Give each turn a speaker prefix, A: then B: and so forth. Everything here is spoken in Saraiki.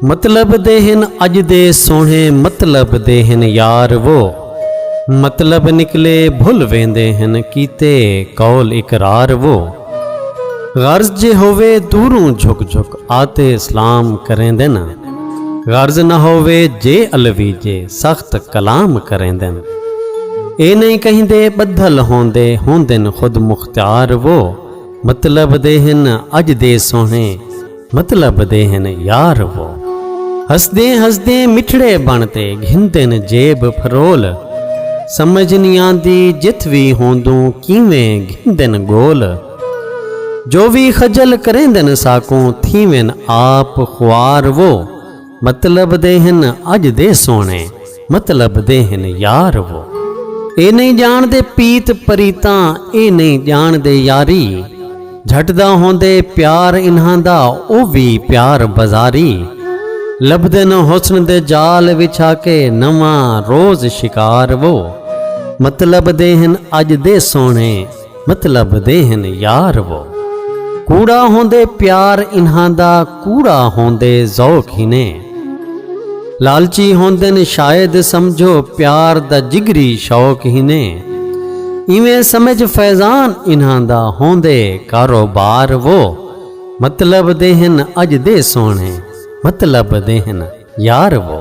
A: مطلب دے ہن اج دے سوہنے مطلب دے ہن یار وہ مطلب نکلے بھل ویندے ہن کیتے قول اقرار وہ غرض جے ہووے دوروں جھک جھک آتے سلام کریندن غرض نہ ہووے جے علوی جے سخت کلام کریندن اے نہیں کہیں دے بدھل ہوندے ہوندن خود مختار وہ مطلب دے ہن اج دے سوہنے مطلب دے ہن یار وہ ہسدیں ہسدیں مٹھڑے بن تے گھندن جیب پھرول سمجھ نی آندی جتھ وی ہوندوں کیویں گھندن گول جو وی خجل کریندن ساکوں تھیون آپ خوار وہ مطلب دے ہن اج دے سوہنے مطلب دے ہن یار وہ اے نہیں جان دے پیت پریتاں اے نہیں جان دے یاری جھٹ دا ہوندے پیار انہاں دا او وی پیار بازاری لبدن حسن دے جال وچھا کے نواں روز شکار وہ مطلب دے ہن اج دے سوہنے مطلب دے ہن یار وہ کوڑا ہوندے پیار انہاں دا کوڑا ہوندے ذوق ہنے لالچی ہوندن شاید سمجھو پیار دا جگری شوق ہنے ایویں سمجھ فیضان انہاں دا ہوندے کاروبار وہ مطلب دے ہن اج دے سونے مطلب دے ہن یار وہ